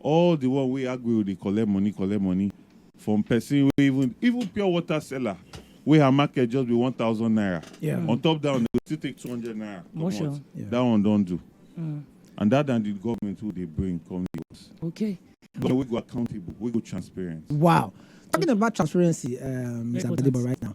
All the one wey Aguero dey collect money collect money from person wey even even pure water seller wey her market just be one thousand naira yeah. on top that one dey still take two hundred naira comot sure. yeah. that one don do mm. and that than the government wey dey bring come the house. Okay. Government wey go accountable wey go transparent. Wow. Talking about transparency, um, Mr. Badiba right now.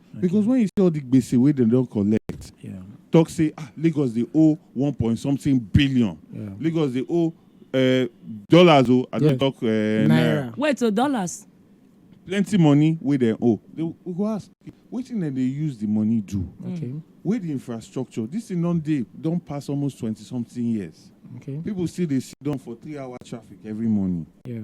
because when you see all the gbese wey dem don collect Yeah. talk say ah lagos dey owe one point something billion Yeah. lagos dey owe uh, dollars o i Yeah. don talk uh, naira Naira. wait so dollars plenty money wey dem owe they we go ask wetin dem dey use the money do Okay. wey the infrastructure this thing don dey don pass almost twenty something years Okay. people still dey sit down for three hour traffic every morning Yeah.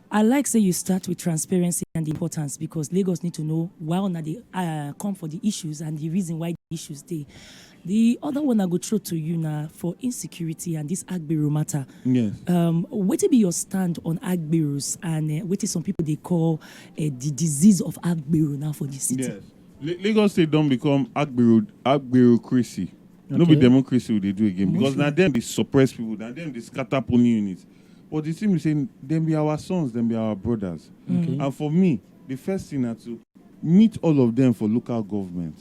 I like say you start with transparency and di importance because Lagos need to know why una dey uh, come for di issues and di reason why di issues dey. Di other one I go throw to you na for insecurity and dis Agbero matter. Yes. Um, wetin be your stand on Agberos and uh, wetin some people dey call uh, di disease of Agbero now for di city? Yes. Lagos State don become Agbero Agberocracy. Okay. No be democracy we dey do again because na dem dey suppress people, na dem dey scatter polling units. But di tin be say dem be our sons, dem be our brodas and for me di first tin na to meet all of dem for local government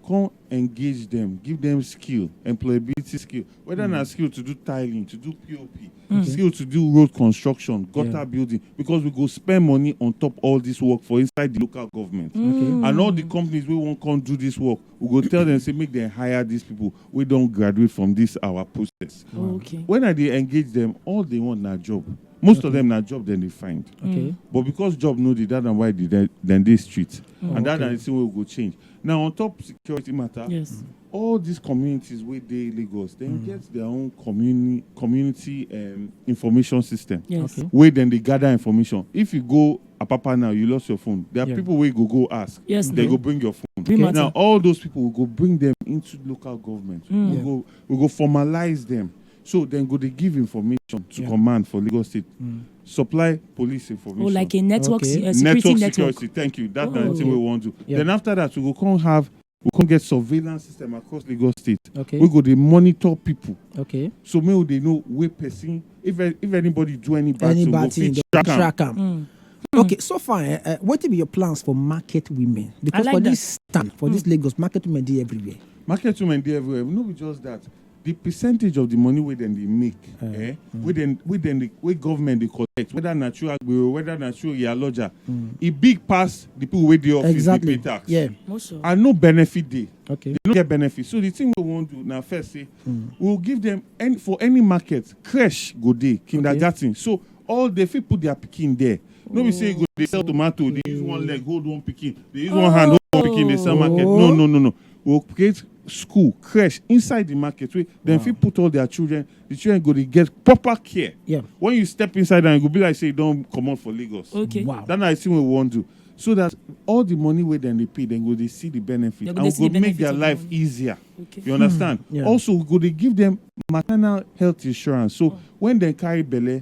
come engage dem, give dem skill, employability skill weda na skill to do tiling, to do pop, skill to do road construction, gutter building because we go spend money on top all dis work for inside di local government and all di companies wey wan come do dis work we go tell dem say make dem hire dis pipu. wey don graduate from dis our process. Okay. When I dey engage dem, all dey want na job. Most of dem na job dem dey find. Okay. But because job no dey, dat na why dey dey dem dey street. Oh, And dat na okay. the thing wey we go change. Now, on top security matter, Yes. all these communities wey dey Lagos, dem Mm. get their own communi- community um, information system Yes. Okay. wey dem dey gather information. If you go ah papa now you lost your phone there are yeah. people wey go go ask yes, they go bring your phone Be now matter. all those people will go bring them into local government mm. we yeah. go we go formalize them so then go they give information to yeah. command for lagos state mm. supply police information. oh like a network okay. uh, security network, network security thank you that oh. na the thing we wan do yeah. then after that we go come have we come get surveillance system across lagos state okay we go dey monitor people okay so make we dey know where person if if anybody do any bad any thing bad thing track, track am mm. Hmm. okay so far uh, eh, eh, wetin be your plans for market women because like for that. this stand for mm. this hmm. lagos market women dey everywhere market women dey everywhere no be just that The percentage of the money wey dem dey make, eh, eh mm. wey dem wey dem dey wey government dey collect, whether na through agbero, whether na through yaloja, mm. e big pass the people wey dey office exactly. dey pay tax. Yeah. Also. And no benefit dey. Okay. They no get benefit. So the thing we wan do na first say mm. we we'll give them any for any market, creche go dey, kindergarten. Okay. So all they fit put their pikin there. No be say you go dey sell tomato, dey use one leg hold one pikin, dey use oh. one hand hold one pikin, dey sell market. No, no, no, no. We go create school, creche inside the market wey dem fit put all their children. The children go dey get proper care. Yeah. When you step inside am, e go be like say you don comot for Lagos. Okay. Wow. That na the thing wey we wan do. So that all the money wey dem dey pay, dem go dey see the benefit. Dem go and dey we see go the make benefit their of the life money. easier. Okay. You understand? yeah. Also, we go dey give them maternal health insurance. So when dem carry belle,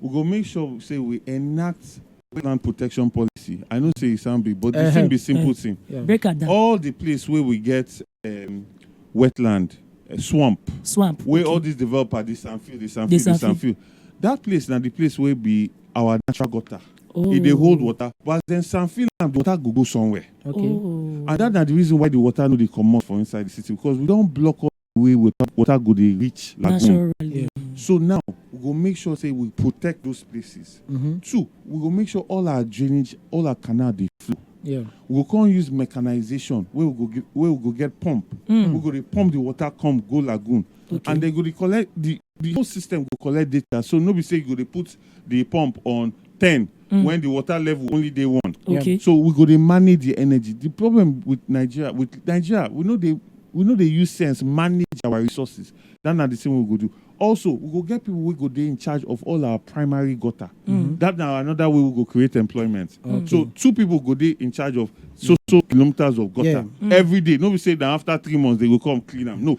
we go make sure say we enact wetland protection policy i know say e sound big but the thing be simple thing break am down all the place wey we get um, wetland uh, swamp swamp wey okay. all these developer dey sanfield dey sanfield dey sanfield. sanfield that place na the place wey be our natural gutter oh. e dey hold water but as dem sanfield am the water go go somewhere okay. oh. and that na the reason why the water no dey comot for inside the city because we don block all way wey water go dey reach lagoon. Naturally. So now, we go make sure say we protect those places. Mhm. Two, we go make sure all our drainage, all our canal dey flow. Yeah. We go come use mechanization wey we go give, wey we go get pump. Mm. We go dey pump the water come go lagoon, Okay. and they go dey collect the the whole system go collect data so no be say you go dey put the pump on ten mm. when the water level only dey one. okay so we go dey manage the energy the problem with nigeria with nigeria we no dey we no dey use sense manage our resources that na the same we go do also we go get people wey go dey in charge of all our primary gutter mm-hmm. that na another way we go create employment so two people go dey in charge of so so kilometers of gutter Yeah. every day no be say na after three months they go come clean am no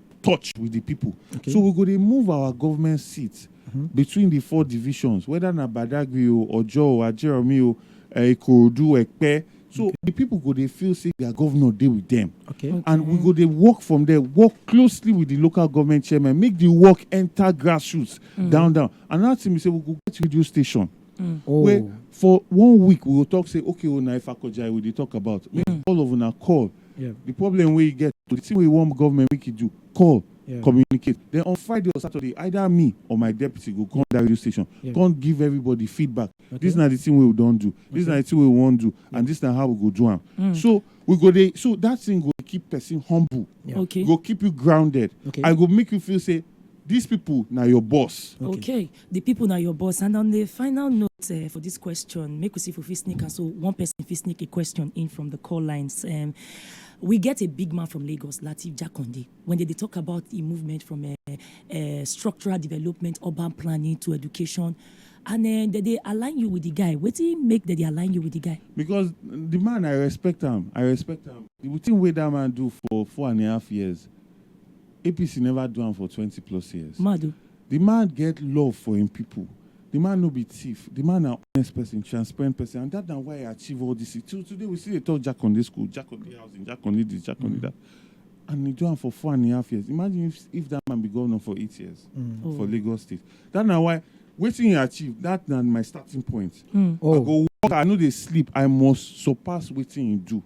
touch with the people. Okay. So we go to move our government seats mm-hmm. between the four divisions, whether na Badagry o, Ojo o, Ajeromi o, eh, Ikorodu, Ekpe. So okay. the people go they feel say their governor dey with them. Okay. okay. And we go they work from there, work closely with the local government chairman, make the work enter grassroots mm. down down. And that's thing we say we go get radio station. mm. oh. wey for one week we go talk say okay o oh, na ifakojai we dey talk about make mm. all of una call yeah. the problem wey you get the thing wey you want government make you do call yeah. communicate then on friday or saturday either me or my deputy go come that radio station yeah. come give everybody feedback okay. this na the thing wey we don do this okay. na the thing wey we wan do yeah. and this na how we go do am mm. so we go dey so that thing go keep person humble yeah. okay. go keep you grounded okay. and go make you feel say these people now your boss. Okay. okay. The people na your boss and on the final note uh, for this question, make we see if we fit sneak and so one person fit sneak a question in from the call lines. Um, we get a big man from Lagos, Latif Jakonde, when they, they talk about the movement from uh, uh, structural development, urban planning to education. And uh, they, they align you with the guy. What do you make that they align you with the guy? Because the man, I respect him. I respect him. The thing way that man do for four and a half years, APC never do him for 20 plus years. Madu. Di man get love for im pipo, di man no be thief, di man na honest pesin, transparent pesin and dat na why e achieve all dis tin. Till today we still dey tok Jakande school, Jakande housing, Jakande dis, Jakande dat and e do am for four and a half years. Imagine if if dat man be govnor for eight years for Lagos state. Dat na why wetin e achieve, dat na my starting point. I go work hard, I no dey sleep, I must surpass wetin e do.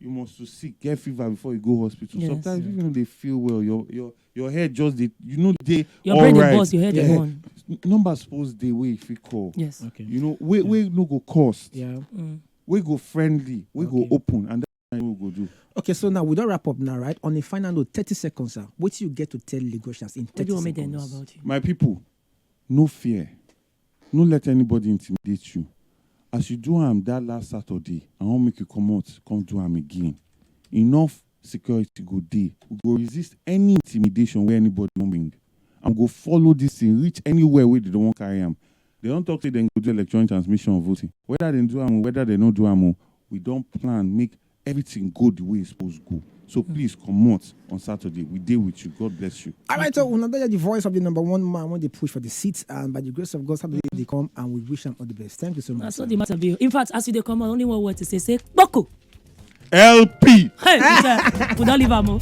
you must to sick get fever before you go hospital yes. sometimes if you no dey feel well your your your head just dey you no dey your brain dey burst your head dey burn number suppose dey wey you fit call yes okay you know wey wey no go cost yeah mm. wey go friendly wey go open and that's what we go do okay so now we don wrap up now right on a final note thirty seconds sir wetin you get to tell lagosians in thirty seconds what do you want make dem know about you my people no fear No let anybody intimidate you, as you do am that last Saturday I wan make you comot come do am again, enough security go dey, we go resist any intimidation wey anybody wan bring and we go follow this thing reach anywhere wey dem wan carry am, dem don talk say dem go do electronic transmission of voting whether dem do am o whether dem no do am o, we don plan make everything go the way e suppose go so hmm. please comot on saturday we dey with you god bless you. all right so una don hear the voice of the number one man wey dey push for the seat and by the grace of god saturday dey come and we wish am all the best thank you so much. na so the matter be in fact as you dey come on only one word to say say kpoko. lp. hey sir we don leave am o.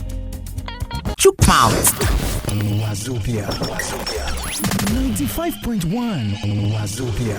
chook mouth. wazobia wazobia ninety five point one wazobia.